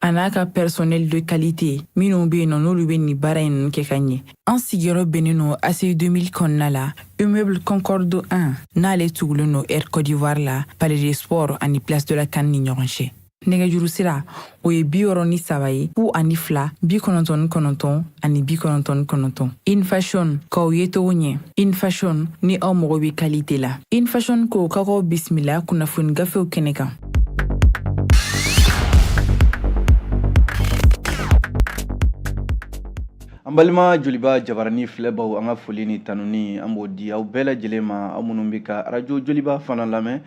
a n'a ka personnel de qualité minnu be yen nɔ n'olu be nin baara in kɛ ka ɲɛ an sigiyɔrɔ bɛnnen nɔ ACI 2000 kɔnɔna la immeuble concorde 1 n'ale tugulen nɔ air côte d'ivoire la palais des sports ani place de la CAN ni ɲɔgɔn cɛ nɛgɛjuru sira o ye bi wɔɔrɔ ni saba ye fu ani fila bi kɔnɔntɔn ni kɔnɔntɔn ani bi kɔnɔntɔn ni kɔnɔntɔn in fashion k'aw ye togo ɲɛ in fashion ni aw mago bɛ qualité la in fashion ko k'aw bisimila kunnafoni gafew kɛnɛ kan An balima joliba jabarani filɛbaw an ka foli ni tanuni an b'o di aw bɛɛ lajɛlen ma aw minnu bɛ ka arajo joliba fana lamɛn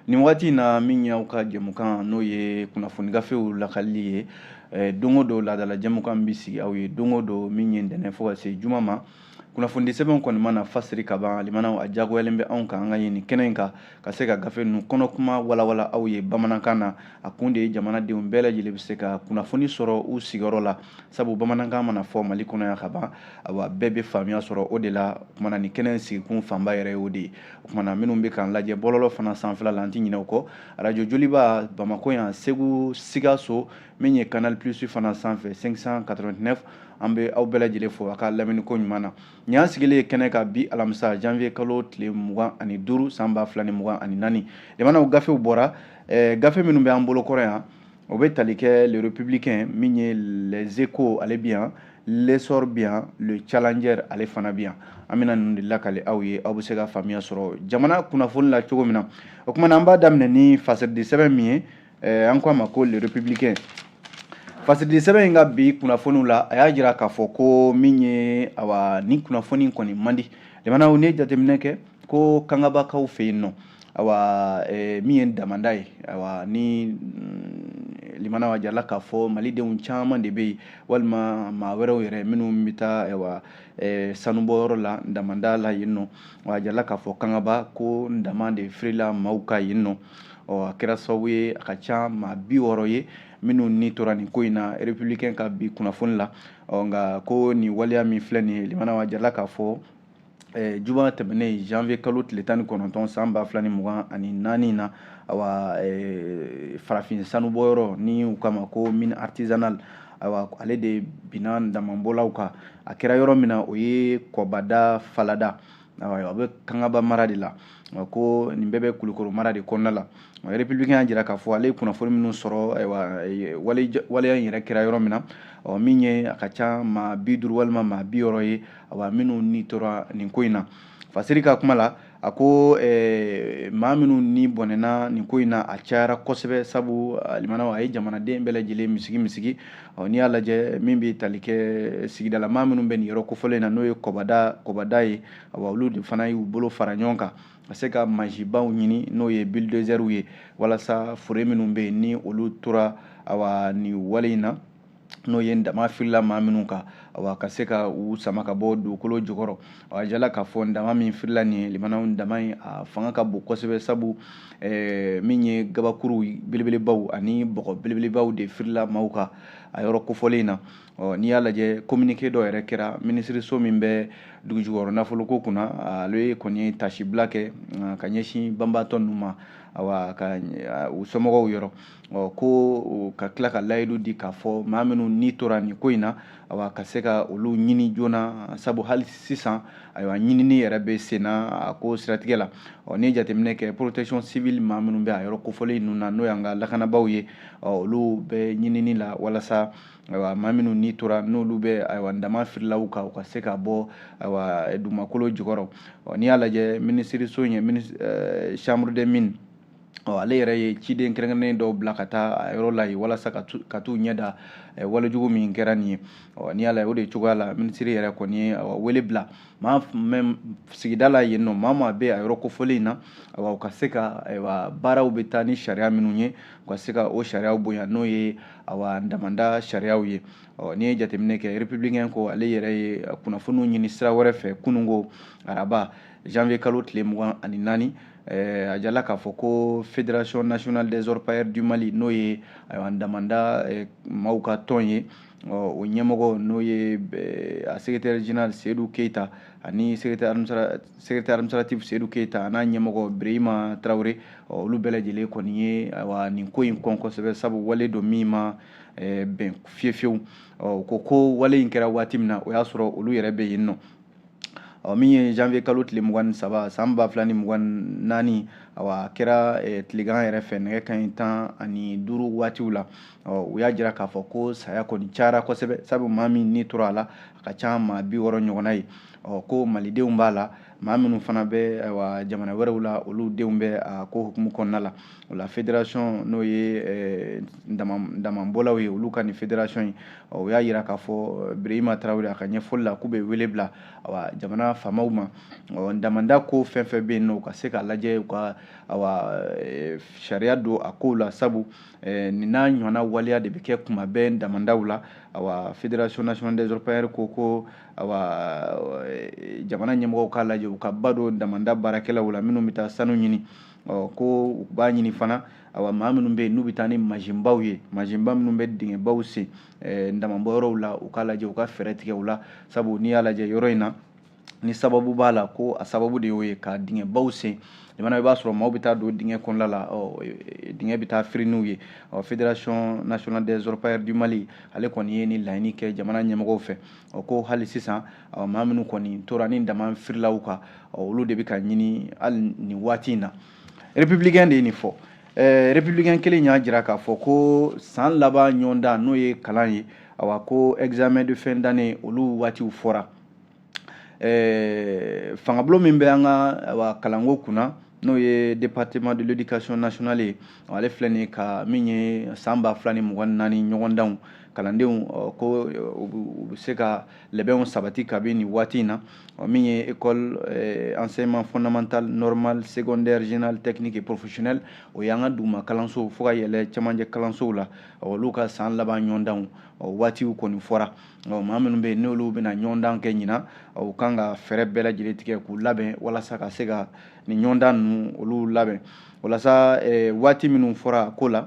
nin waati in na min y'aw ka jɛmukan n'o ye kunnafoni gafew lakali ye don o don laadala jɛmukan bɛ sigi aw ye don o don min ye ntɛnɛn fo ka se juma ma kunnafoni sɛbɛnw kɔni mana fasiri ka ban limanaw a jagoyalen bɛ anw kan an k'a ɲini kɛnɛ in kan ka se ka gafe ninnu kɔnɔ kuma walawala aw ye bamanankan na a kun de ye jamanadenw bɛɛ lajɛlen bɛ se ka kunnafoni sɔrɔ u sigiyɔrɔ la sabu bamanankan mana fɔ mali kɔnɔ yan ka ban awa bɛɛ bɛ faamuya sɔrɔ o de la o kumana nin kɛnɛ in sigikun fanba yɛrɛ ye o de ye o kumana minnu bɛ k'an lajɛ bɔlɔlɔ fana sanfɛla la an tɛ ɲinɛ o kɔ arajo joliba bamakɔ yan segu sikaso min ye canal plus fana sanfɛ 589 an bɛ aw bɛɛ lajɛlen fo a ka lamɛnni ko ɲuman na nin y'an sigilen ye kɛnɛ kan bi alamisa janvier kalo tile mugan ani duuru san ba fila ni mugan ani naani limanaw gafew bɔra eh, gafe minnu bɛ an bolo kɔrɔ yan o bɛ tali kɛ le républicain min ye les échos ale bi yan l'essor bi yan le challenger ale fana bi yan an bɛna ninnu de lakali aw ye aw bɛ se ka faamuya sɔrɔ jamana kunnafoni la cogo min na o kumana an b'a daminɛ ni fasirili sɛbɛn min ye eh, an ko a ma ko le républicain fasirili sɛbɛn in ka bi kunnafoniw la a y'a jira k'a fɔ ko min ye awa nin kunnafoni kɔni man di limanaw n'i ye jateminɛ kɛ ko kangabakaw fɛ yen nɔ awa eh, min ye damanda ye awa ni mm, limanaw a jirala k'a fɔ malidenw caman de bɛ yen walima maa wɛrɛw yɛrɛ minnu bɛ taa awa eh, sanubɔyɔrɔ la damanda la yen nɔ a jirala k'a fɔ kangaba ko dama de firila maaw kan yen nɔ ɔ a kɛra sababu ye a ka ca maa bi wɔɔrɔ ye minnu ni tora nin ko in na républicain ka bi kunnafoni la ɔ nka ko nin waleya min filɛ nin ye limanaw a jirala k'a fɔ eh, juma tɛmɛnen janvier kalo tile tan ni kɔnɔntɔn san ba fila ni mugan ani naani na awa eh, farafin sanubɔyɔrɔ n'u k'a ma ko mine artisanale awa ale de binna damabɔlaw kan a kɛra yɔrɔ min na o ye kɔbada falada a bɛ kangaba mara de la ko nin bɛɛ bɛ kulikoro mara de kɔnɔna la républicain y'a jira k'a fɔ ale ye kunnafoni minnu sɔrɔ waleya in yɛrɛ kɛra yɔrɔ min na min ye a ka ca maa bi duuru walima maa bi wɔɔrɔ ye awa minnu ni tora nin ko in na fasiri ka kuma la a ko maa minnu ni bɔnɛna nin ko in na a cayara kosɛbɛ sabu limanaw a ye jamanaden bɛɛ lajɛlen misigi misigi ɔ n'i y'a lajɛ min bɛ tali kɛ sigida la maa minnu bɛ nin yɔrɔ kofɔlen in na n'o ye kɔbada ye wa olu de fana y'u bolo fara ɲɔgɔn kan ka se ka mansinbaw ɲini n'o ye bilidozɛriw ye walasa fure minnu bɛ yen ni olu tora awa nin wale in na n'o ye dama firila maa minnu kan awa ka se ka u sama ka bɔ dugukolo jukɔrɔ a jala k'a fɔ dama min firila nin ye limanaw dama ye a fanga ka bon kosɛbɛ sabu eh, min ye gabakuru belebelebaw ani bɔgɔ belebelebaw de firila maaw kan a yɔrɔ kofɔlen in na ɔ n'i y'a lajɛ communiqué dɔ yɛrɛ kɛra minisiriso min bɛ dugujukɔrɔ nafoloko kunna ale kɔni ye taasibila kɛ ka ɲɛsin banbaatɔ ninnu ma awa ka u somɔgɔw yɔrɔ ɔ ko ka tila ka layidu di k'a fɔ maa minnu ni tora nin ko in na awa ka se ka olu ɲini joona sabu hali sisan ayiwa ɲinini yɛrɛ bɛ senna a ko siratigɛ la ɔ n'i jateminɛ kɛ protection civile maa minnu bɛ a yɔrɔ kofɔlen ninnu na n'o y'an ka lakanabaaw ye ɔ olu bɛ ɲinini la walasa ayiwa maa minnu ni tora n'olu bɛ ayiwa dama firilaw kan u ka se ka bɔ ayiwa dugumakolo jukɔrɔ ɔ n'i y'a lajɛ minisiriso in ye eh, chambre des mines ɔ ale yɛrɛ ye ciden kɛrɛnkɛrɛnnen dɔw bila ka taa a yɔrɔ la yen walasa ka t'u ɲɛ da walejugu min kɛra nin ye ɔ n'i y'a lajɛ o de cogoya la minisiri yɛrɛ kɔni ye wele bila maa min bɛ sigida la yen nɔ maa maa bɛ a yɔrɔ kofɔlen in na u ka se ka baaraw bɛ taa ni sariya minnu ye u ka se ka o sariyaw bonya n'o ye awa damanda sariyaw ye ɔ n'i ye jateminɛ kɛ républicain ko ale yɛrɛ ye kunnafoniw ɲini sira wɛrɛ fɛ kununko araba janvier kalo tile mugan ani naani a jala k'a fɔ ko fédération nationale des orpailleurs du mali n'o ye ayiwa damanda maaw ka tɔn ye o ɲɛmɔgɔ n'o ye a secrétaire général seyidu keyita ani secrétaire administratif seyidu keyita an'a ɲɛmɔgɔ birahima tarawele olu bɛɛ lajɛlen kɔni ye ayiwa nin ko in kɔn kosɛbɛ sabu wale don min ma bɛn fiyefiyewu o ko ko wale in kɛra waati min na o y'a sɔrɔ olu yɛrɛ bɛ yen nɔ ɔ min ye janvier kalo tile mugan ni saba san ba fila ni mugan naani awa a kɛra eh, tilegan yɛrɛ fɛ nɛgɛ kanɲɛ tan ani duuru waatiw la ɔ u y'a jira k'a fɔ ko saya kɔni cayara kosɛbɛ sabu maa min ni tora a la a ka ca maa bi wɔɔrɔ ɲɔgɔnna ye ɔ ko malidenw b'a la maa minnu fana bɛ ayiwa jamana wɛrɛw la olu denw bɛ a ko hukumu kɔnɔna la o la fédération n'o ye eh, damabɔlaw ye olu ka nin fédération in o y'a yira k'a fɔ eh, Birahima Traoré a ka ɲɛfɔli la k'u bɛ wele bila awa jamana faamaw ma ɔ damanda ko fɛn fɛn bɛ yen nɔ u ka se k'a lajɛ u ka awa eh, sariya don a kow la sabu nin n'a ɲɔgɔnna waleya de bɛ kɛ kuma bɛɛ damandaw la awa fédération nationale des orpailleurs ko ko awa jamana ɲɛmɔgɔw k'a lajɛ u ka ba don damanda baarakɛlaw la minnu bɛ taa sanu ɲini ɔ ko u b'a ɲini fana awa maa minnu bɛ yen n'u bɛ taa ni mansinbaw ye mansinba minnu bɛ dingɛbaw sen eh, damabɔ yɔrɔw la u k'a lajɛ u ka fɛɛrɛ tigɛ u la sabu n'i y'a lajɛ yɔrɔ in na ni sababu b'a la ko a sababu de y'o ye ka dingɛbaw sen jamana i b'a sɔrɔ maaw bɛ taa don dingɛ kɔnɔla la eh, dingɛ bɛ taa firi n'u ye ɔ fédération nationale des orpailleurs du Mali ale kɔni ye nin laɲini kɛ jamana ɲɛmɔgɔw fɛ ɔ ko hali sisan ɔ maa minnu kɔni tora nin dama firilaw kan ɔ olu de bɛ ka ɲini hali nin waati in na Républicain de ye nin fɔ ɛɛ Républicain kelen y'a jira k'a fɔ ko san laban ɲɔgɔndan n'o ye kalan ye awa ko examen de fin d'année olu waatiw fɔra ɛɛ fangabulon min bɛ an ka awa kalanko kunna n'o ye département de l'éducation nationale ye ale filɛ nin ka min ye san ba fila ni mugan ni naani ɲɔgɔndanw kalandenw ko u bɛ se ka labɛnw sabati kabini nin waati in na ɔ min ye école eh, enseignement fondamental normal secondaire général technique et professionnel o y'an ka duguma kalansow fo ka yɛlɛ cɛmancɛ kalansow la olu ka san laban ɲɔgɔndanw waatiw kɔni fɔra maa minnu bɛ yen n'olu bɛna ɲɔgɔndan kɛ ɲina u kan ka fɛɛrɛ bɛɛ lajɛlen tigɛ k'u labɛn walasa ka se ka nin ɲɔgɔndan ninnu olu labɛn walasa eh, waati minnu fɔra a ko la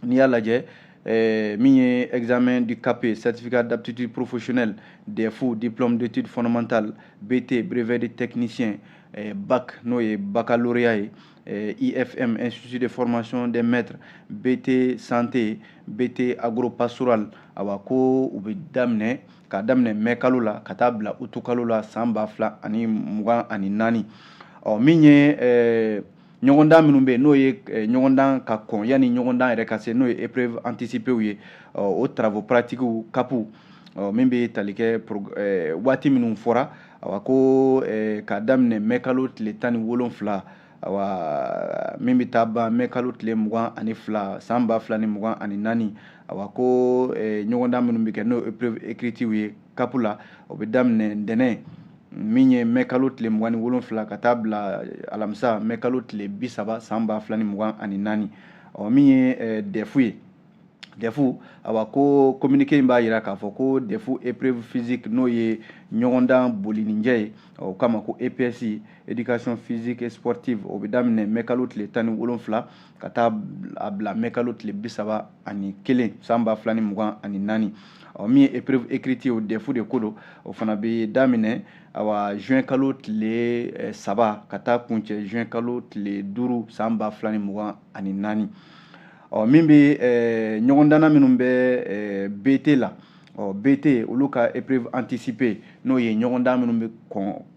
n'i y'a lajɛ Eh, min ye examen du CAP certificat d'aptitude professionnelle DEF diplôme d'études fondamentales BT brevet de technicien eh, bac n'o ye baccalauréat ye eh, IFM institut de formation des maîtres BT santé BT agropastoral awa ko u bɛ daminɛ k'a daminɛ mɛ kalo la ka taa bila utu kalo la san ba fila ani mugan ani naani ɔ min ye ɲɔgɔndan minnu bɛ yen n'o ye eh, ɲɔgɔndan ka kɔn yanni ɲɔgɔndan yɛrɛ ka se n'o ye épreuve anticipéew ye o travaux pratiquew CAP min bɛ tali kɛ eh, waati minnu fɔra awa ko eh, k'a daminɛ mɛkalo tile tan ni wolonfila awa min bɛ taa ban mɛkalo tile mugan ani fila san ba fila ni mugan ani naani awa ko ɲɔgɔndan minnu bɛ kɛ n'o épreuve écritew ye CAP la o bɛ daminɛ ntɛnɛn min ye mɛ kalo tile mugan ni wolonfila ka taa bila alamisa mɛ kalo tile bi saba san ba fila ni mugan ani naani ɔ min ye eh, dɛfu ye dɛfu awa ko communiqué in b'a yira k'a fɔ ko dɛfu épreuve physique n'o ye ɲɔgɔndan bolininjɛ ye o kama ko eps éducation physique et sportive o bɛ daminɛ mɛkalo tile tan ni wolonfila ka taa a bila mɛkalo tile bi saba ani kelen san ba fila ni mugan ani naani ɔ min ye épreuve écrite ye o dɛfu de ko don o fana bɛ daminɛ awa juin kalo tile eh, saba ka taa kuncɛ juin kalo tile duuru san ba fila ni mugan ani naani ɔ min bɛ eh, ɲɔgɔndanna minnu bɛ eh, bt la ɔ bt olu ka épreuve anticipée n'o ye ɲɔgɔndan minnu bɛ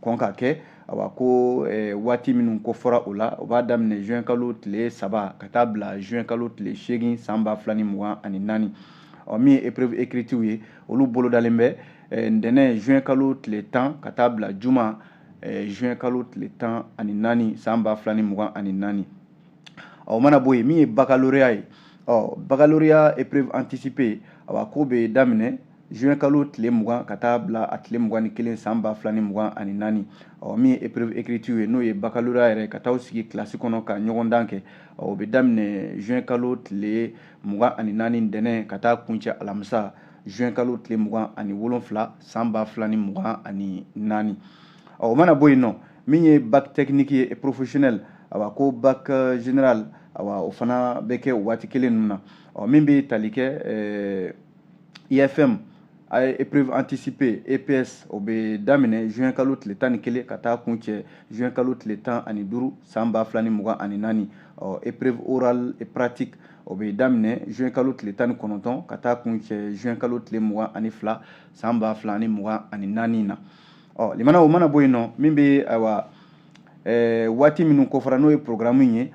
kɔn ka kɛ awa ko eh, waati minnu ko fɔra o la o b'a daminɛ juin kalo tile saba ka taa bila juin kalo tile seegin san ba fila ni mugan ani naani ɔ min ye épreuve écritiw ye olu bolodalen bɛ eh, ntɛnɛn juin kalo tile tan ka taa bila juma eh, juin kalo tile tan ani naani san ba fila ni mugan ani naani o mana bɔ yen min ye baccalauréat ye ɔ baccalauréat épreuve anticipée awa k'o bɛ daminɛ juin kalo tile mugan ka taa bila a tile mugan ni kelen san ba fila ni mugan ani naani ɔ min ye épreuve écriture ye n'o ye baccalauréat yɛrɛ ka taa sigi kilasi kɔnɔ ka ɲɔgɔndan kɛ ɔ o bɛ daminɛ juin kalo tile mugan ani naani ntɛnɛn ka taa kuncɛ alamisa juin kalo tile mugan ani wolonfila san ba fila ni mugan ani naani ɔ o mana bɔ yen ɔ min ye bac technique ye professionnel awa ko bac euh, général awa o fana bɛ kɛ o waati kelen ninnu na ɔ min bɛ tali kɛ ɛɛ IFM a ye épreuve anticipée EPS o bɛ daminɛ juin kalo tile tan ni kelen ka taa kuncɛ juin kalo tile tan ani duuru san ba fila ni mugan ani naani ɔ épreuve orale et pratique o bɛ daminɛ juin kalo tile tan ni kɔnɔntɔn ka taa kuncɛ juin kalo tile mugan ani fila san ba fila ni mugan ani naani na ɔ lamɛnna o mana bɔ yen ɔ min bɛ ayiwa ɛɛ waati minnu kofɔra n'o ye programme in ye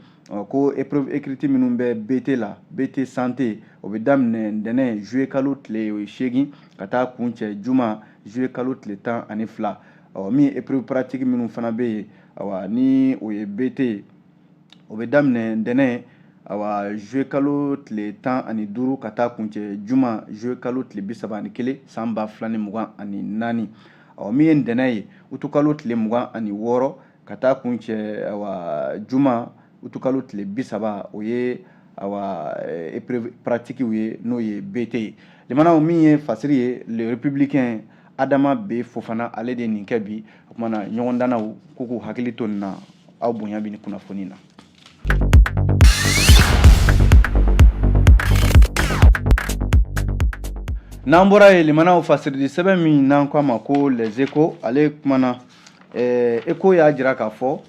ko épreuve écrite minnu bɛ BT la BT santé o bɛ daminɛ ntɛnɛn juillet kalo tile o ye seegin ka taa kuncɛ juma juillet kalo tile tan ani fila ɔ min ye épreuve pratique minnu fana bɛ yen awa ni o ye BT ye o bɛ daminɛ ntɛnɛn awa juillet kalo tile tan ani duuru ka taa kuncɛ juma juillet kalo tile bi saba ani kelen san ba fila ni mugan ani naani ɔ min ye ntɛnɛn ye utukalo tile mugan ani wɔɔrɔ ka taa kuncɛ awa juma utukalo tile bi saba o ye awa eh, épreuve pratikiw ye n'o ye bt ye lamɛnnaw min ye fasiri ye le républicain adama b fofana ale de ye nin kɛ bi o kuma na ɲɔgɔndannaw k'u k'u hakili to nin na aw bonya bi nin kunnafoni na N'an bɔra yen limanaw fasirili sɛbɛn min n'an k'a ma ko les échos ale kumana eh, écho y'a jira k'a fɔ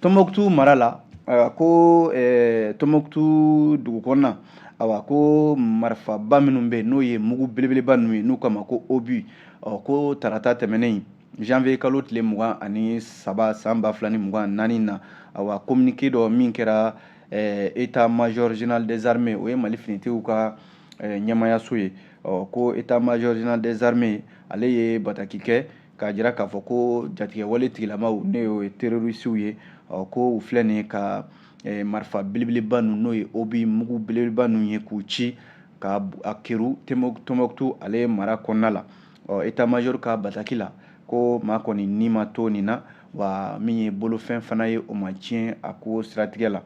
Tombouctou mara la ayiwa ko eh, Tombouctou dugu kɔnɔna ayiwa ko marifaba minnu bɛ yen n'o ye mugu belebeleba ninnu ye n'u k'a ma ko obus ɔ ko tarata tɛmɛnen janvier kalo tile mugan ani saba san ba fila ni mugan naani na awa communiqué dɔ min kɛra eh, état major général des armées o ye mali finitigiw ka eh, ɲɛmaayaso ye ɔ ko état major général des armées ale ye bataki kɛ k'a jira k'a fɔ ko jatigɛwale tigilamaw n'o ye terorisiw ye ɔ ko u filɛ nin ye ka eh, marifa belebeleba ninnu n'o ye obus mugu belebeleba ninnu ye k'u ci ka a kɛrun Tombouctou ale mara kɔnɔna la ɔ état major ka bataki la ko maa kɔni ni ma to nin na wa min ye bolofɛn fana ye o ma tiɲɛ a ko siratigɛ la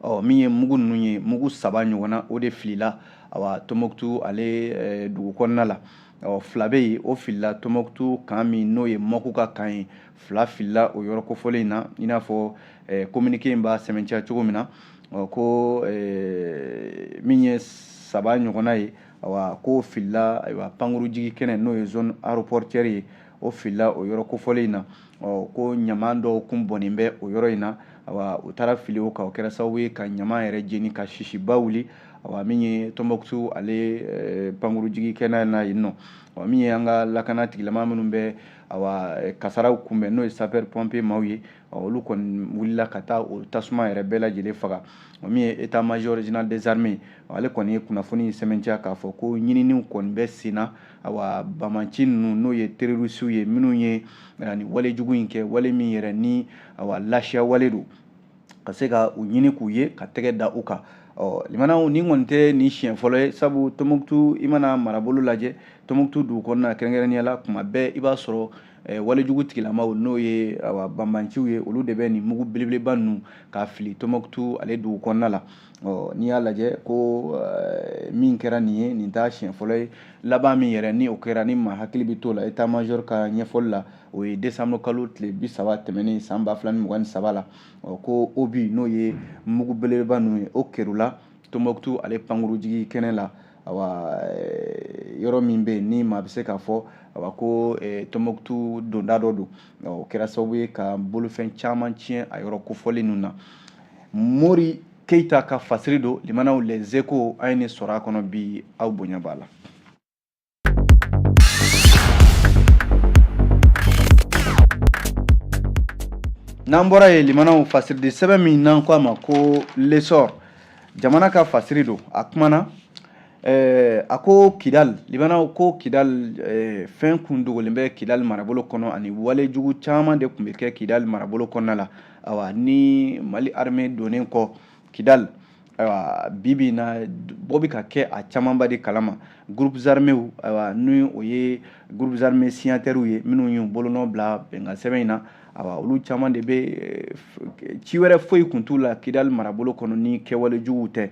ɔ min ye mugu ninnu ye mugu saba ɲɔgɔnna o de filila awa Tombouctou ale eh, dugu kɔnɔna la ɔ fila bɛ yen o filila Tombouctou camp min n'o ye MOC ka camp ye fila filila o yɔrɔ kofɔlen in na i n'a fɔ eh, communiqué in b'a sɛmɛntiya cogo min na ɔ ko eh, min ye saba ɲɔgɔnna ye ayiwa ko filila ayiwa pankuru jigi kɛnɛ n'o ye zone aéroportuaire ye o filila o yɔrɔ kofɔlen in na ɔ ko ɲaman dɔw kun bɔnnen bɛ o yɔrɔ in na ayiwa u taara fili o kan o kɛra sababu ye ka ɲaman yɛrɛ jeni ka sisiba wuli ayiwa min ye Tombouctou ale eh, pankuru jigi kɛnɛ na yen nɔ ɔ min ye an ka lakana tigilama minnu bɛ ayiwa eh, kasaraw kunbɛn n'o ye sapeur pompier maaw ye olu kɔni wulila ka taa o tasuma yɛrɛ bɛɛ lajɛlen faga o min ye état major général des armées ale kɔni ye kunnafoni sɛmɛntiya k'a fɔ ko ɲininiw kɔni bɛ sen na awa banbanci ninnu n'o ye terorisiw ye minnu ye nin wale jugu in kɛ wale min yɛrɛ ni awa lasiya wale don ka se ka u ɲini k'u ye ka tɛgɛ da u kan ɔ limanaw nin kɔni tɛ nin siɲɛ fɔlɔ ye sabu Tombouctou i mana marabolo lajɛ Tombouctou dugu kɔnɔna kɛrɛnkɛrɛnnenya la kuma bɛɛ i b'a sɔrɔ walejugu tigilamaw n'o ye banbanciw ye olu de bɛ nin mugu belebeleba ninnu k'a fili Tombouctou ale dugu kɔnɔna la n'i y'a lajɛ ko min kɛra nin ye nin t'a siɲɛ fɔlɔ ye laban min yɛrɛ ni o kɛra ni maa hakili bɛ t'o la état major ka ɲɛfɔli la o ye décembre kalo tile bi saba tɛmɛnen san ba fila ni mugan ni saba la ko obus n'o ye mugu belebeleba ninnu ye o kɛrunna Tombouctou ale pankurujigi kɛnɛ la yɔrɔ min bɛ yen ni maa bɛ se k'a fɔ a ko tombouctou donda dɔ don o kɛra sababu ye ka bolofɛn caman tiɲɛ a yɔrɔ kofɔlen ninnu na mori keyita ka fasiri don limanaw les échos an ye nin sɔrɔ a kɔnɔ bi aw bonya b'a la n'an bɔra yen limanaw fasiridi sɛbɛn min n'an ko a ma ko l'essor jamana ka fasiri don a kumana eh, a ko kidal limanaw ko kidal eh, fɛn kun dogolen bɛ kidal marabolo kɔnɔ ani wale jugu caman de kun bɛ kɛ kidal marabolo kɔnɔna la awa ni mali armée donnen kɔ kidal ayiwa bibi na bɔ bɛ ka kɛ a camanba de kalama groupes armés ayiwa ni o ye groupes armés signataires ye minnu y'u bolonɔ bila bɛnkansɛbɛn in na awa olu caman de bɛ eh, ci wɛrɛ foyi kun t'u la kidali marabolo kɔnɔ ni kɛwale juguw tɛ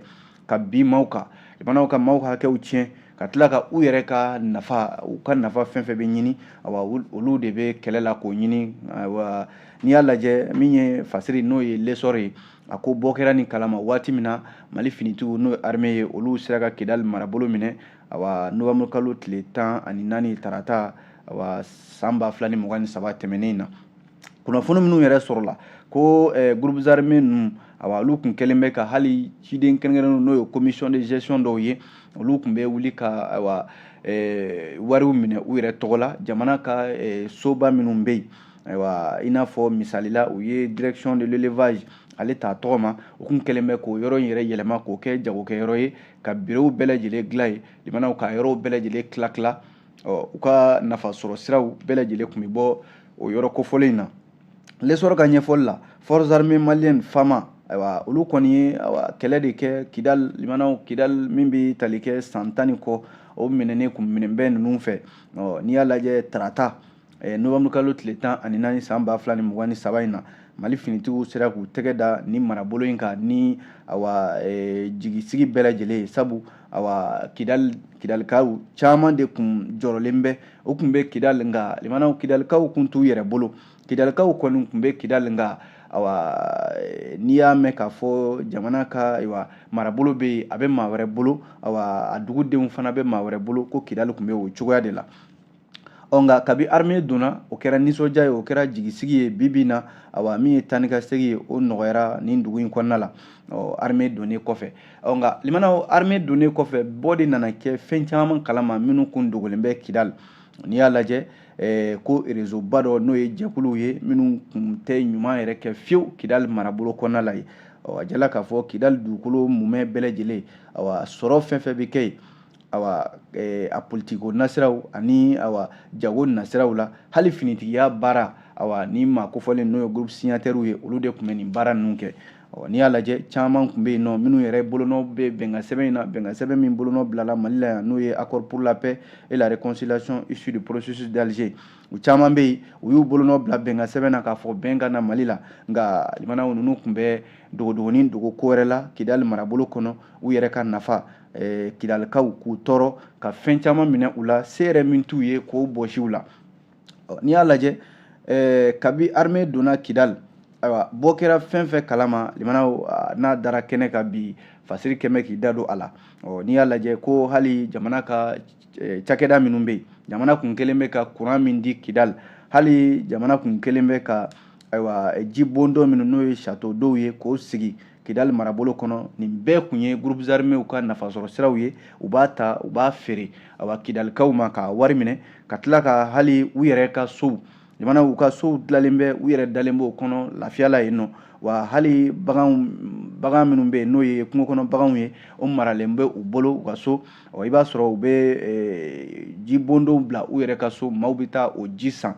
ka bin maaw kan limanaw ka maaw ka hakɛw tiɲɛ ka tila ka u yɛrɛ ka nafa u ka nafa fɛn fɛn bɛ ɲini awa olu de bɛ kɛlɛ la k'o ɲini awa n'i y'a lajɛ min ye fasiri n'o ye l'essor ye a ko bɔ kɛra nin kalama waati min na mali finitigiw n'o ye armée ye olu sera ka kidali marabolo minɛ ayiwa novanburu kalo tile tan ani naani tarata ayiwa san ba fila ni mugan ni saba tɛmɛnen na kunnafoni minnu yɛrɛ sɔrɔla ko eh, groupe armé ninnu ayiwa olu kun kɛlen bɛ ka hali ciden kɛrɛnkɛrɛnnenw n'o ye commission de gestion dɔw ye olu kun bɛ wuli ka ayiwa eh, wariw minɛ u yɛrɛ tɔgɔ la jamana ka eh, soba minnu bɛ yen ayiwa i n'a fɔ misali la u ye direction de l'élevage ale t'a tɔgɔ ma u kun kɛlen bɛ k'o yɔrɔ in yɛrɛ yɛlɛma k'o kɛ jagokɛyɔrɔ ye ka birow bɛɛ lajɛlen dilan yen limanaw k'a yɔrɔw bɛɛ lajɛlen tila tila ɔ u ka nafa sɔrɔ siraw bɛɛ lajɛlen kun bɛ bɔ o yɔrɔ kofɔlen in na l'essor ka ɲɛfɔli la forces armées maliennes fama ayiwa olu kɔni ye awa kɛlɛ de kɛ kidal limanaw kidal min bɛ tali kɛ san tan ni kɔ o minɛnen kun minɛnen bɛ ninnu fɛ ɔ n'i y'a lajɛ tarata eh, novanburu kalo tile tan ani naani san ba fila ni mugan ni saba in na mali finitigiw sera k'u tɛgɛ da nin marabolo in kan ni awa eh, jigisigi bɛɛ lajɛlen ye sabu awa kidal kidalikaw caman de kun jɔrɔlen bɛ u kun bɛ kidal nka limanaw kidalikaw kun t'u yɛrɛ bolo kidalikaw kɔni kun bɛ kidal nka awa eh, n'i y'a mɛn k'a fɔ jamana ka ayiwa marabolo bɛ yen a bɛ maa wɛrɛ bolo awa a dugudenw fana bɛ maa wɛrɛ bolo ko kidali kun bɛ o cogoya de la ɔ nka kabi armée donna o kɛra nisɔndiya ye o kɛra jigisigi ye bi bi na awa min ye taa ni ka segin ye o nɔgɔyara nin dugu in kɔnɔna la ɔ armée donnen kɔfɛ ɔ nka limanaw armée donnen kɔfɛ bɔ de nana kɛ fɛn caman kalama minnu kun dogolen bɛ kidal n'i y'a lajɛ eh, ko réseau ba dɔ n'o ye jɛkuluw ye minnu kun tɛ ɲuman yɛrɛ kɛ fiyewu kidal marabolo kɔnɔna la yen ɔ a jirala k'a fɔ kidal dugukolo mumɛ bɛɛ lajɛlen awa sɔrɔ fɛn fɛn bɛ kɛ yen awa eh, a politiki nasiraw ani awa jago nasiraw la hali finitigiya baara awa nin maa kofɔlen n'o ye groupe signataires ye olu de tun bɛ nin baara ninnu kɛ awa n'i y'a lajɛ caman tun bɛ yen nɔ minnu yɛrɛ bolonɔ bɛ bɛnkan sɛbɛn in na bɛnkan sɛbɛn min bolonɔ bilala mali la yan n'o ye accord pour la paix et la réconciliation issue du processus d'alger u caman bɛ yen u y'u bolonɔ bila bɛnkan sɛbɛn na k'a fɔ bɛn ka na mali la nka limanaw ninnu tun bɛ dogodogonin dogo ko wɛrɛ la kidali marabolo kɔnɔ u yɛrɛ ka nafa eh, kidalikaw k'u tɔɔrɔ ka fɛn caman minɛ u la se yɛrɛ min t'u ye k'o bɔsi u la n'i y'a lajɛ eh, kabi armée donna kidali ayiwa bɔ kɛra fɛn fɛn kalama limanaw ah, n'a dara kɛnɛ kan bi fasiri kɛmɛ k'i da don a la n'i y'a lajɛ ko hali jamana ka eh, cakɛda minnu bɛ yen jamana kun kɛlen bɛ ka kuran min di kidali hali jamana kun kɛlen bɛ ka ayiwa ji bondon minnu n'o ye château d'eau ye k'o sigi kidali marabolo kɔnɔ nin bɛɛ kun ye groupe armés ka nafasɔrɔ siraw ye u b'a ta u b'a feere awa kidalikaw ma k'a wari minɛ ka tila ka hali u yɛrɛ ka sow jamana u ka sow dilalen bɛ u yɛrɛ dalen b'o kɔnɔ lafiya la yen nɔ wa hali baganw bagan minnu bɛ yen n'o ye kungo kɔnɔ baganw ye o maralen bɛ u bolo u ka so ɔ i b'a sɔrɔ u bɛ eh, ji bondonw bila u yɛrɛ ka so maaw bɛ taa o ji san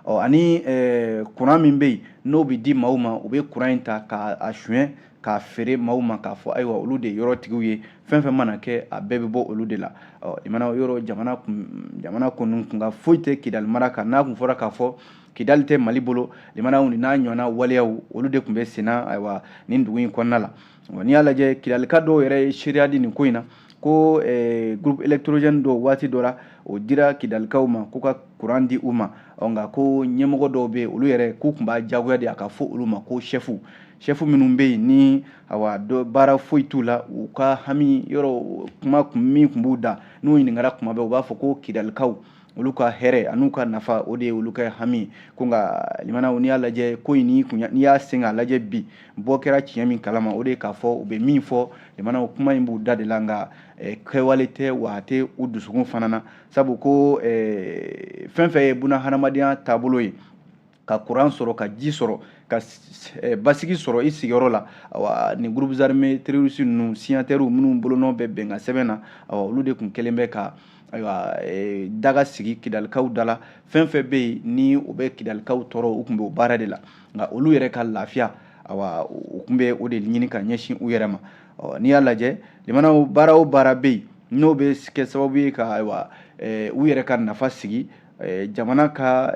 ɔ ani eh, kuran min bɛ yen n'o bɛ di maaw ma u bɛ kuran in ta k'a suɲɛ k'a feere maaw ma k'a fɔ ayiwa olu de ye yɔrɔtigiw ye fɛn fɛn mana kɛ a bɛɛ bɛ bɔ olu de la ɔ limanaw yɔrɔ jamana kun jamana kɔni kunka foyi tɛ kidali mara kan n'a kun fɔra k'a fɔ kidali tɛ mali bolo limanaw n'a ɲɔgɔnna waleyaw olu de tun bɛ senna ayiwa nin dugu in kɔnɔna la wa n'i y'a lajɛ kidalika dɔw yɛrɛ ye seereya di nin ko in na ko eh, groupe électrogène dɔw waati dɔ la o dira kidalikaw ma k'u ka kuran di u ma nka ko ɲɛmɔgɔ dɔw bɛ yen olu yɛrɛ k'u tun b'a jagoya de a ka fɔ olu ma ko sɛfu sɛfu minnu bɛ yen ni awa dɔ baara foyi t'u la u ka hami yɔrɔ kuma min tun b'u da n'u ɲininkara kuma bɛɛ u b'a fɔ ko kidalikaw olu ka hɛrɛ an'u ka nafa o de ye olu ka hami ko nka limanaw n'i y'a lajɛ ko in n'i y'a sen k'a lajɛ bi bɔ kɛra tiɲɛ min kalama o de ye k'a fɔ u bɛ min fɔ limanaw kuma in b'u da de la nka kɛwale tɛ wa a tɛ u dusukun fana na sabu ko fɛn fɛn ye buna hadamadenya taabolo ye ka kuran sɔrɔ ka ji sɔrɔ ka eh, basigi sɔrɔ i sigiyɔrɔ la awa nin groupes armés terroristes ninnu signataires minnu bolonɔ bɛ bɛnkan sɛbɛn na awa olu de kun kɛlen bɛ ka ayiwa eh, daga sigi kidalikaw da la fɛn fɛn bɛ yen ni o bɛ kidalikaw tɔɔrɔ u kun bɛ o baara de la nka olu yɛrɛ ka lafiya awa u kun bɛ o de ɲini ka ɲɛsin u yɛrɛ ma n'i y'a lajɛ limanaw baara o baara bɛ yen n'o bɛ kɛ sababu ye ka ayiwa eh, u yɛrɛ ka nafa sigi jamana ka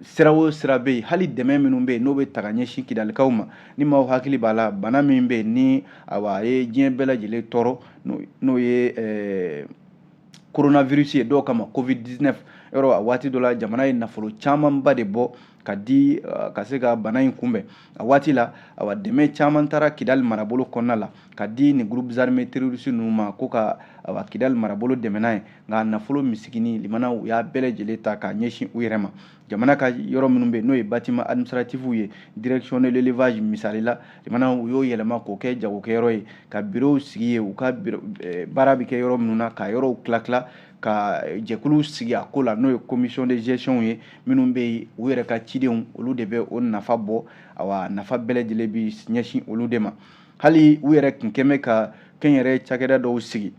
sira o sira bɛ yen hali dɛmɛ minnu bɛ yen n'o bɛ ta ka ɲɛsin kidalikaw ma ni maaw hakili b'a la bana min bɛ yen ni awa a ye diɲɛ bɛɛ lajɛlen tɔɔrɔ n'o ye coronavirus ye dɔw k'a ma covid dix-neuf yɔrɔ a waati dɔ la jamana ye nafolo camanba de bɔ ka di uh, ka se ka bana in kunbɛn a waati la awa dɛmɛ caman taara kidali marabolo kɔnɔna la ka di ni groupes armés terroristes ninnu ma ko ka awa kidali marabolo dɛmɛ n'a ye nka nafolo misigini limanaw u y'a bɛɛ lajɛlen ta k'a ɲɛsin u yɛrɛ ma jamana ka yɔrɔ minnu bɛ yen n'o ye bâtiment administratif ye direction de l'élevage misali la limanaw u y'o yɛlɛma k'o kɛ jagokɛyɔrɔ ye ka bureau sigi yen u ka eh, baara bɛ kɛ yɔrɔ minnu na ka yɔrɔw tila tila ka jɛkulu sigi a ko la n'o ye commission de gestion ye minnu bɛ yen u yɛrɛ ka cidenw olu de bɛ o nafa bɔ awa nafa bɛɛ lajɛlen bi ɲɛsin olu de ma hali u yɛrɛ tun kɛn bɛ ka kɛnyɛrɛ cakɛda dɔw sigi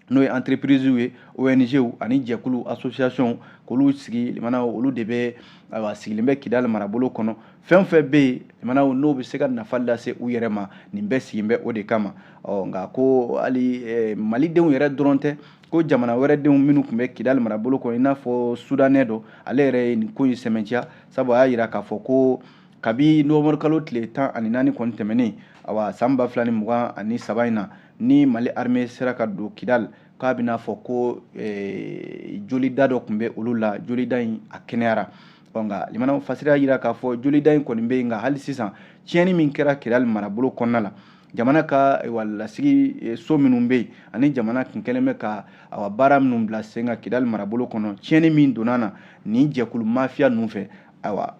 n'o ye entreprisew ye ONGw ani jɛkulu association k'olu sigi limanaw olu de bɛ ayiwa sigilen bɛ Kidali marabolo kɔnɔ fɛn o fɛn bɛ yen limanaw n'o bɛ se ka nafa lase u yɛrɛ ma nin bɛɛ sigilen bɛ o de kama ɔ nka ko hali Malidenw yɛrɛ dɔrɔn tɛ ko jamana wɛrɛ denw minnu tun bɛ kidali marabolo kɔnɔ i n'a fɔ soudanais dɔ ale yɛrɛ ye nin ko in sɛmɛntiya sabu a y'a jira k'a fɔ ko kabi novembre kalo tile tan ani naani kɔni tɛmɛnen awa san ba fila ni mugan ani saba in na ni mali armée sera ka don kidali k'a b'i n'a fɔ ko eh, jolida dɔ tun bɛ olu la jolida in a kɛnɛyara ɔ nka limanaw fasiri y'a jira k'a fɔ jolida in kɔni bɛ yen nka hali sisan tiɲɛni min kɛra kidali marabolo kɔnɔna la jamana ka lasigi e, so minnu bɛ yen ani jamana kun kɛlen bɛ ka awa baara minnu bila sen kan kidali marabolo kɔnɔ tiɲɛni min donna na nin jɛkulu mafiya ninnu fɛ awa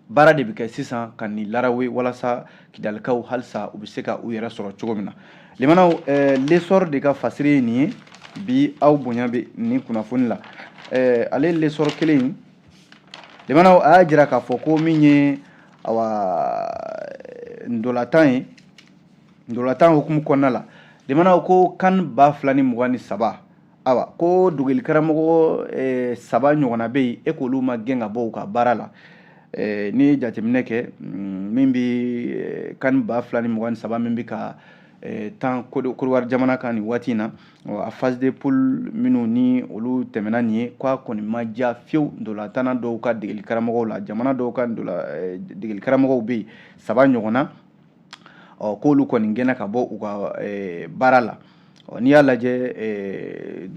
baara de bɛ kɛ sisan ka nin larawe walasa kidalikaw halisa u bɛ se ka u yɛrɛ sɔrɔ cogo min na Limanaw eh, l'Essor de ka fasiri ye nin ye bi aw bonya bɛ nin kunnafoni la eh, ale l'Essor kelen in limanaw a y'a jira k'a fɔ ko min ye awa ndolatan ye ndolatan hukumu kɔnɔna la limanaw ko CAN ba fila ni mugan ni saba awa ko degelikaramɔgɔ eh, saba ɲɔgɔnna bɛ yen e k'olu ma gɛn ka bɔ u ka baara la eh, n'i ye jateminɛ kɛ mm, min bɛ eh, kan ba fila ni mugan ni saba min bɛ ka eh, tan kodowari jamana kan nin waati in na a phase de poule minnu ni olu tɛmɛna nin ye k'a kɔni ma diya fiyewu ndolatanna dɔw ka degelikaramɔgɔw la jamana dɔw ka ndola eh, degelikaramɔgɔw bɛ yen saba ɲɔgɔnna ɔ k'olu kɔni gɛnna ka bɔ u ka eh, baara la ɔ n'i y'a lajɛ eh,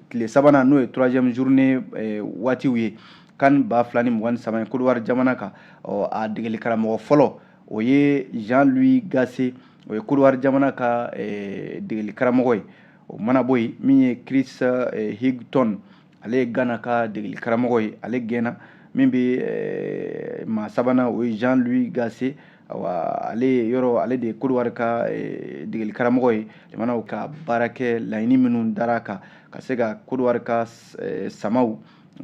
tile sabanan n'o ye troisième journée eh, waatiw ye kan ba fila ni mugan ni saba ye kodowari jamana kan ɔ a degeli karamɔgɔ fɔlɔ o ye jean louis gasset o ye kodowari jamana ka degeli karamɔgɔ ye o mana bɔ yen min ye chris hughton ale ye gana ka degeli karamɔgɔ ye ale gɛnna min bɛ eh, maa sabanan o ye jean louis gasset awa ale yɛrɛ ale de ye kodowari ka eh, degeli karamɔgɔ ye jamanaw ka baara kɛ laɲini minnu dara kan ka se ka kodowari ka eh, samaw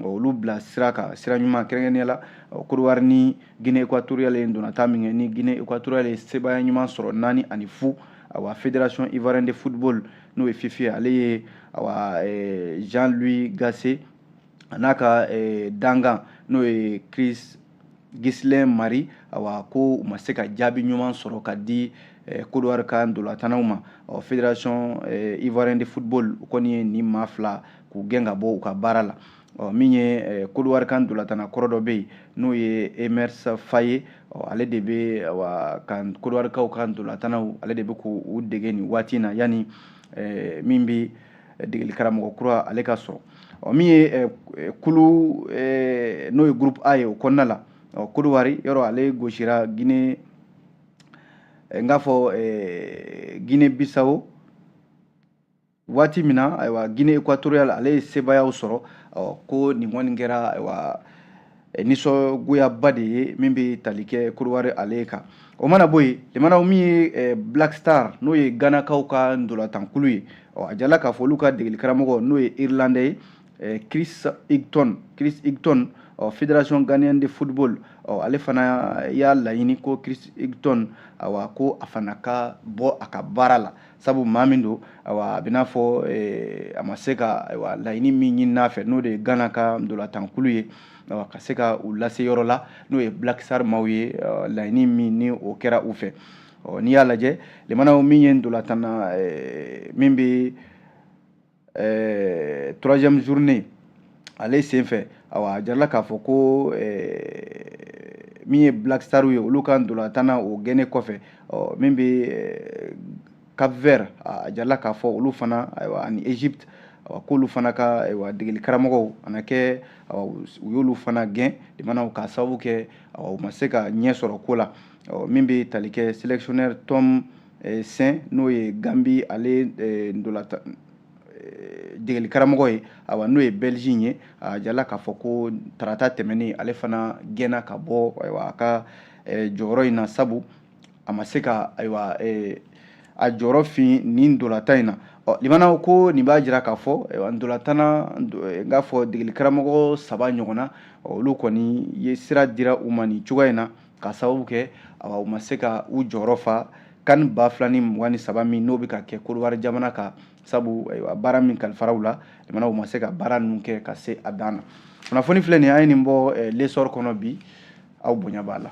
olu bila sira kan sira ɲuman kɛrɛnkɛrɛnnenya la kodowari ni guinee équatoriale ye ndolatan min kɛ ni guinee équatoriale ye sebaaya ɲuman sɔrɔ naani ani fu awa fédération ivoirienne de football n'o ye fifi ye ale ye awa eh, jean louis gasset a n'a ka eh, dangan n'o ye chris ghislain marie awa ko u ma se ka jaabi ɲuman sɔrɔ ka di eh, kodowari ka ndolatannaw ma ɔ fédération eh, ivoirienne de football u kɔni ye nin maa fila k'u gɛn ka bɔ u ka baara la ɔ min ye kodowari ka ndolatanna kɔrɔ dɔ bɛ yen n'o ye emerse faé ɔ ale de bɛ wa ka kodowarikaw ka ndolatannaw ale de bɛ k'u dege nin waati in na yanni min bɛ degeli karamɔgɔ kura ale ka sɔrɔ ɔ min ye kulu n'o ye groupe a ye o kɔnɔna la ɔ kodowari yɛrɛ ale gosira guinée n k'a fɔ guinée bissau waati min na ayiwa guinée équatoriale ale ye sebaayaw sɔrɔ ko nin kɔni kɛra ayiwa eh, nisɔngoyaba de ye min bɛ tali kɛ kodowari ale kan o mana bɔ yen limanaw min ye eh, black star n'o ye ganakaw ka ndolatankulu ye a jirala k'a fɔ olu ka degeli karamɔgɔ n'o ye irlandais ye eh, chris hughton chris hughton ɔ fédération ghanéenne de football ɔ ale fana y'a laɲini ko chris hughton awa ko a fana ka bɔ a ka baara la sabu maa min don ayiwa a bɛ n'a fɔ eh, a ma se ka ayiwa laɲini min ɲinin'a fɛ n'o de ye gana ka ndolatankulu ye ayiwa ka se ka u lase yɔrɔ la n'o ye black star maaw ye eh, laɲini min ni o kɛra u fɛ n'i y'a lajɛ lemanaw min ye ndolatanna eh, min bɛ ɛɛ troisième journée ale senfɛ awa a jirala k'a fɔ ko ɛɛ min ye black star ye olu ka ndolatan na o gɛnnen kɔfɛ ɔ min bɛ cap vert a jirala k'a fɔ olu fana ayiwa ani egypte awa k'olu fana ka ayiwa degeli karamɔgɔw a na kɛ awa u y'olu fana gɛn limanaw k'a sababu kɛ awa u ma se ka ɲɛ sɔrɔ ko la min bɛ tali kɛ sélectionneur tom eh, sen n'o ye gambie ale eh, ndolatan eh, degeli karamɔgɔ ye awa n'o ye belge ye a jirala k'a fɔ ko tarata tɛmɛnen ale fana gɛnna ka bɔ ayiwa a ka jɔyɔrɔ in na sabu a ma se ka ayiwa a jɔyɔrɔ fa nin ndolatan in na ɔ limanaw ko nin b'a jira k'a fɔ ayiwa ndolatan na n k'a fɔ degeli karamɔgɔ saba ɲɔgɔnna olu kɔni ye sira dira u ma nin cogoya in na k'a sababu kɛ u ma se ka u jɔyɔrɔ fa can ba fila ni mugan ni saba min n'o bɛ ka kɛ kodiwari jamana kan sabu baara min kalifara u la limanaw u ma se ka baara ninnu kɛ ka se a dan na kunnafoni filɛ nin an ye nin bɔ eh, l'essor kɔnɔ bi aw bonya b'a la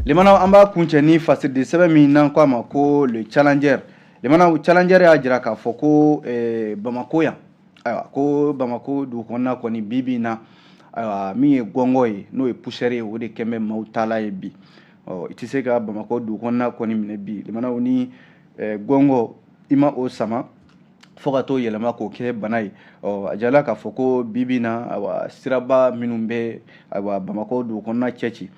limanaw an b'a kuncɛ ni fasiridi sɛbɛn min n'an ko a ma ko le challenger limanaw challenger y'a jira k'a fɔ ko eh, bamako yan ayiwa ko bamako dugu kɔnɔna kɔni bi bi in na ayiwa min ye gɔngɔ ye n'o ye poussière ye o de kɛn bɛ maaw taala ye bi ɔ i tɛ se ka bamakɔ dugu kɔnɔna kɔni minɛ bi limanaw ni eh, gɔngɔ i ma o sama fo ka t'o yɛlɛma k'o kɛ bana ye ɔ a jirala k'a fɔ ko bi bi in na ayiwa siraba minnu bɛ ayiwa bamakɔ dugu kɔnɔna cɛci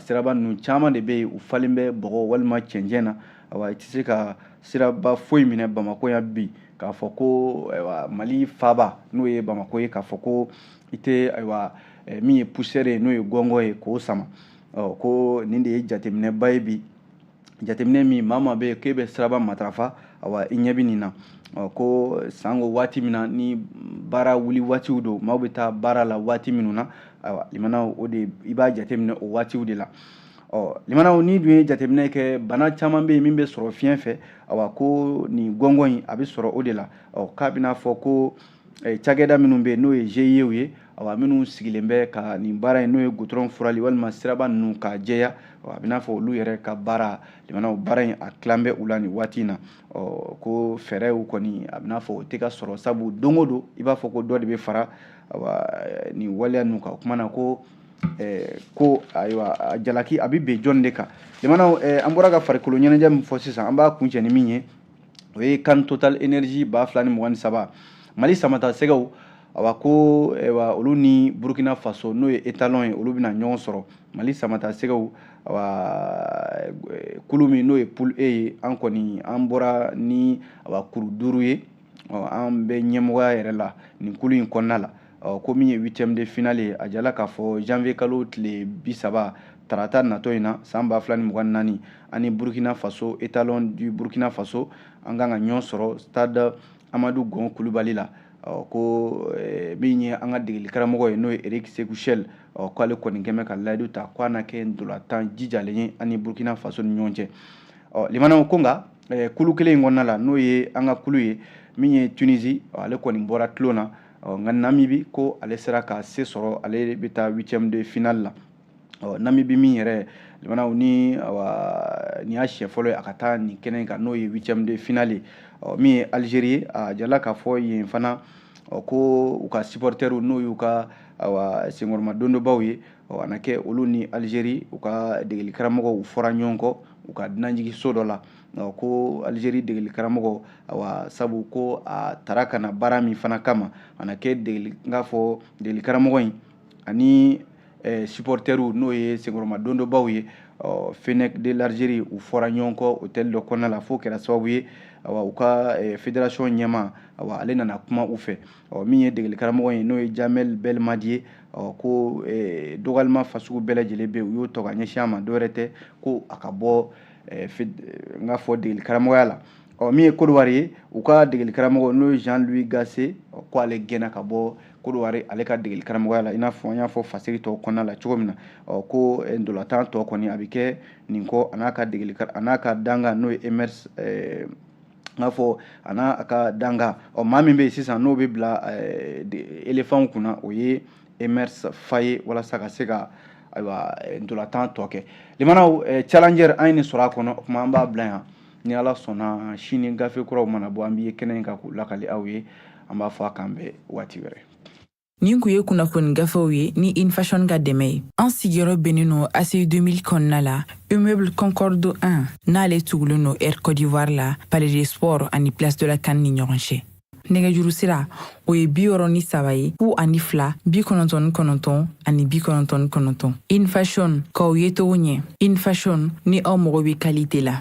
siraba ninnu caman de bɛ yen u falen bɛ bɔgɔ walima cɛncɛn na awa i tɛ se ka siraba foyi minɛ bamakɔ yan bi k'a fɔ ko ayiwa mali faaba n'o ye bamakɔ ye k'a fɔ ko i tɛ ayiwa eh, min ye poussière ye n'o ye gɔngɔ ye k'o sama ɔ ko nin de ye jateminɛba ye bi jateminɛ min maa maa bɛ yen k'e bɛ siraba matarafa awa i ɲɛ bɛ nin na ɔ ko sanko waati min na ni baara wuli waatiw don maaw bɛ taa baara la waati minnu na ayiwa limanaw o de i b'a jateminɛ o waatiw de la ɔ limanaw n'i dun ye jateminɛ kɛ bana caman bɛ yen min bɛ sɔrɔ fiɲɛ fɛ awa ko nin gɔngɔ in a bɛ sɔrɔ o de la ɔ k'a bɛna fɔ ko eh, cakɛda minnu bɛ yen n'o ye GIEw ye awa minnu sigilen bɛ ka nin baara in n'o ye gudɔrɔn furali walima siraba ninnu k'a jɛya ɔ a bɛna fɔ olu yɛrɛ ka baara limanaw baara in a tilan bɛ u la nin waati in na ɔ ko fɛɛrɛw kɔni a bɛna fɔ o tɛ ka sɔrɔ sabu don o don i b'a fɔ ko dɔ de bɛ fara awa nin waleya ninnu kan o kumana ko eh, ko ayiwa jalaki a bɛ bin jɔn de kan limanaw eh, an bɔra ka farikolo ɲɛnajɛ min fɔ sisan an b'a kuncɛ ni min ye o ye CAN total energies ba fila ni mugan ni saba mali samata sɛgɛw awa ko awa olu ni burkina faso n'o ye étalons ye olu bɛna ɲɔgɔn sɔrɔ mali samata sɛgɛw awa eh, kulu min n'o ye poule e ye an kɔni an bɔra ni awa kuru duuru ye an bɛ ɲɛmɔgɔya yɛrɛ la nin kulu in kɔnɔna la ɔ ko min ye huitième de finale ye a jirala k'a fɔ janvier kalo tile bi saba tarata natɔ in na san ba fila ni mugan ni naani ani burkina faso étalons du burkina faso an kan ka ɲɔgɔn sɔrɔ stade amadou gon coulibaly la ɔ ko eh, min ye an ka degeli karamɔgɔ ye n'o ye eric sékou chelle ɔ k'ale kɔni k'a bɛ ka layidu ta ko a na kɛ ntolatan jijalen ye ani burkina faso ni ɲɔgɔn cɛ ɔ limanaw ko nka eh, kulu kelen in kɔnɔna la n'o ye an ka kulu ye min ye tunisie ale kɔni bɔra tulon na ɔ nka namibi ko ale sera ka se sɔrɔ ale bɛ taa huitième de finale la ɔ namibi min yɛrɛ limanaw ni awa nin y'a siɲɛ fɔlɔ ye a ka taa nin kɛnɛ kan n'o ye huitième de finale ye ɔ min ye algérie ye a jirala k'a fɔ yen fana ɔ ko u ka supportɛriw n'o y'u ka awa senkɔrɔma dondonbaw ye ɔ a na kɛ olu ni algérie u ka degeli karamɔgɔ u fɔra ɲɔgɔn kɔ u ka dunanjigiso dɔ la ko algérie degeli karamɔgɔ awa sabu ko a tara ka na baara min fana kama a na kɛ degeli n k'a fɔ degeli karamɔgɔ in ani eh, supportɛriw n'o ye senkɔrɔma dondonbaw ye ɔ fennecs de l'algérie u fɔra ɲɔgɔn kɔ hôtel dɔ kɔnɔna la f'o kɛra sababu ye awa u ka eh, fédération ɲɛmaa awa ale nana kuma u fɛ ɔ min ye degeli karamɔgɔ ye n'o ye djamel belmadi ye ɔ ko eh, dɔgɔyalima fasugu bɛɛ lajɛlen bɛ u y'o tɔ ka ɲɛsin a ma dɔwɛrɛ tɛ ko a ka bɔ eh, eh, n k'a fɔ degeli karamɔgɔya la ɔ min ye kodowari ye u ka degeli karamɔgɔ n'o ye jean louis gasset ko ale gɛnna ka bɔ kodowari ale ka degeli karamɔgɔya la i n'a fɔ an y'a fɔ fasiri tɔw kɔnɔna la cogo min na ɔ ko eh, ntolatan tɔ kɔni a bɛ kɛ nin kɔ a n'a ka degeli a n'a ka dankan n'o ye emerse n k'a fɔ a n'a a ka dankan ɔ maa min bɛ yen sisan n'o bɛ bila elefanw kunna o ye emerse faé ye walasa ka se ka ayiwa ntolatan tɔ kɛ limanaw challenger an ye nin sɔrɔ a kɔnɔ o tuma an b'a bila yan ni ala sɔnna sini gafe kuraw mana bɔ an b'i ye kɛnɛ in kan k'u lakali aw ye an b'a fɔ a k'an bɛn waati wɛrɛ Nin kun ye kunnafoni gafew ye ni in fashion ka dɛmɛ ye an sigiyɔrɔ bɛnnen no ACI 2000 kɔnɔna la immeuble concorde 1 n'ale tugulen no air cote d'ivoire la palais des sports ani place de la CAN ni ɲɔgɔn cɛ nɛgɛjuru sira o ye bi wɔɔrɔ ni saba ye fu ani fila bi kɔnɔntɔn ni kɔnɔntɔn ani bi kɔnɔntɔn ni kɔnɔntɔn in fashion k'aw yecogo ɲɛ in fashion ni aw mago bɛ kalite la